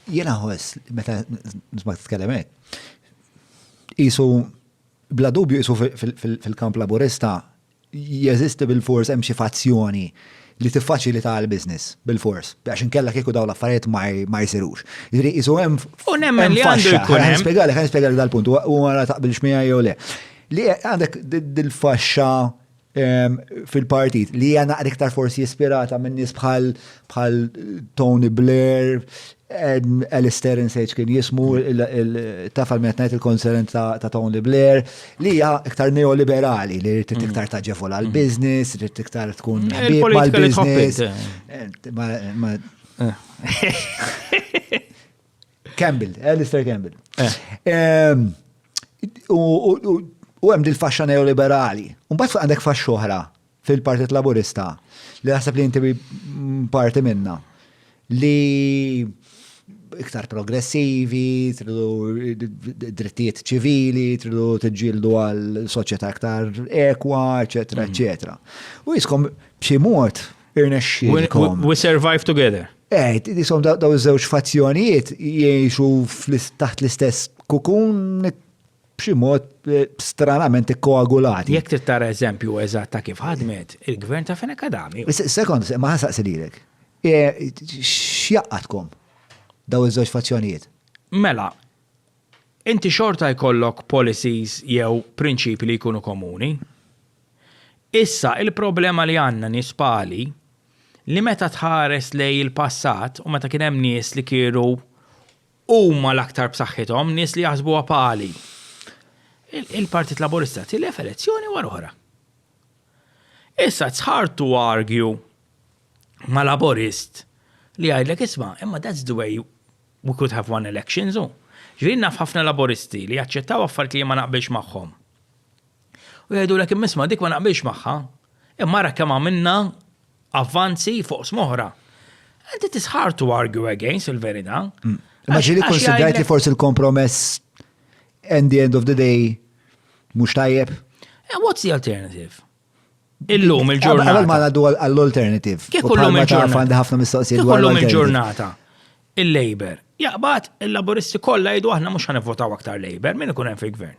Jiena ħoss meta nisma' titkellem hekk, qisu bla dubju qisu fil-kamp Laburista jeżisti bil-fors hemm xi fazzjoni li tiffaċilita l-business bil-fors, għax inkella kieku dawn l-affarijiet ma jsirux. Jiġri qisu hemm U nemmen li għandu jkun hemm. Spjegalek, ħa nispjegalek dal-punt, u ara taqbilx miegħi jew le. Li għandek dil-faxxa fil-partit li hija naqra iktar forsi ispirata minn nies bħal bħal Tony Blair, Alistair Insage kien jismu tafal minn ngħid il-konserent ta' Tony Blair, li hija iktar neoliberali li rrid mm. iktar taġevola mm. l-business, rrid iktar tkun eh, ħbieb mal-business. Eh. Eh, Campbell, Alistair Campbell. U hemm dil-faxxa neoliberali. U mbagħad għandek faxxa oħra fil-Partit Laburista li naħseb li inti parti minna li iktar progressivi, tridu drittijiet ċivili, tridu tġildu għal soċjetà iktar ekwa, eċetera, mhm. eċetera. U jiskom b'xi mod Irnexxielkom. We survive together. Eh, jisom daw iż-żewġ fazzjonijiet jgħixu taħt l-istess kukun b'xi mod eh, stranament ikkoagulati. Jekk trid tara eżempju eżatt ta' kif ħadmet il-gvern ta' Fenek Adami. Sekond, ma ħasaqsi lilek. Eh, x'jaqatkom daw iż-żewġ fazzjonijiet? Mela, inti xorta jkollok policies jew prinċipi li jkunu komuni. Issa, il-problema li għandna nies pali, li meta tħares lejn il-passat u meta kien hemm nies li kienu huma l-aktar b'saħħithom, nies li jaħsbuha pali, il-Partit Laburista tilef elezzjoni wara oħra. Issa it's hard to argue ma' Laburist li jgħidlek isma' imma that's the way we could have won elections. Ġifieri naf ħafna Laburisti li jaċċettaw affarijiet li jien ma naqbilx magħhom. U jgħidulek imma dik ma naqbilx magħha, imma ara kemm għamilna avvanzi fuq smoħra. And it is hard to argue against il-verità. Mm. Ma ġili konsidrajt li forsi l-kompromess and the end of the day mhux tajjeb. Eh, what's the alternative? Illum il-ġurnata. Għal ma għaddu għall-alternative. Kif illum il-ġurnata? Għandi ħafna mistoqsijiet. Kif illum il-ġurnata? Il-Labor. Jaqbad il-Laboristi kollha jgħidu aħna mhux ħanivvotaw aktar Labor, min ikun hemm fil-gvern?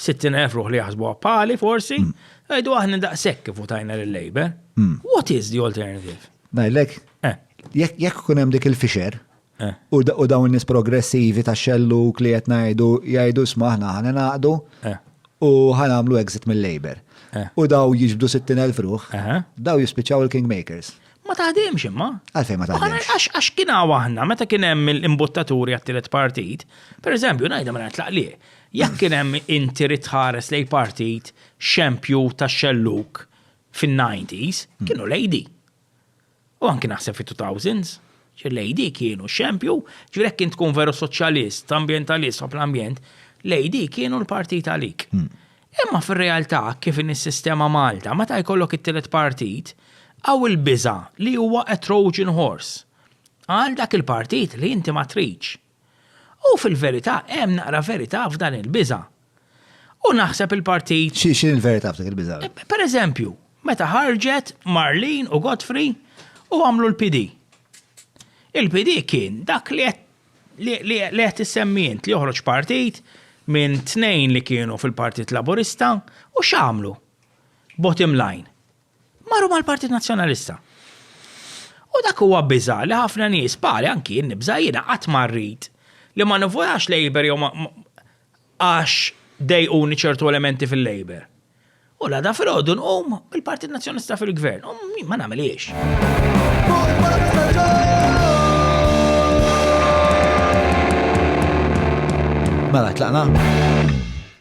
60,000 ruħ li jaħsbu għappali, forsi, għajdu aħna daqsek kif utajna l-Labour. Hmm. What is the alternative? Najlek, eh. jekk kunem dik il-fisher, eh. u dawn nis progressivi ta' xellu li qed ngħidu jgħidu smaħna ħana naqdu eh. u ħanamlu exit mill-Labour. U daw jiġbdu 60,000 ruħ, daw jispiċċaw il-Kingmakers. Ma taħdimx imma. Għalfej ma taħdimx. Għax għax kien għahna, meta kien hemm l-imbuttaturi għat-tielet partit, per eżempju, najda ma natlaq li. Jekk kien hemm inti rid tħares lejn partit xempju tax-xellug fin-90s, kienu lejdi. U anki naħseb fit-2000s, lejdi kienu xempju, ġifieri jekk kien tkun veru soċjalist, ambjentalist u l-ambjent, lejdi kienu l-partit għalik. Hmm. Imma fir-realtà kif in is-sistema Malta, meta jkollok it-tielet partit, għaw il-biża li huwa a Trojan horse. Għal dak il-partit li inti ma tridx. U fil-verità hemm naqra verità f'dan il-biża'. U naħseb il-partit. Xi xi l-verità f'dik il-biża'? Per eżempju, meta ħarġet Marlene u Godfrey u għamlu l-PD. Il-PD kien dak li qed li qed issemmi int li joħroġ partit minn tnejn li kienu fil-Partit Laburista u x'għamlu? Bottom line. Marru mal-Partit Nazzjonalista. U dak huwa biża' li ħafna nies bħali anki jien nibża' jiena qatt ma rrid li ma nivvutax Labour jew għax dejquni ċertu elementi fil-Labour. U l-għada filgħodu nqum bil-Partit Nazzjonalista fil-Gvern u ma nagħmilhiex. Mela tlaqna.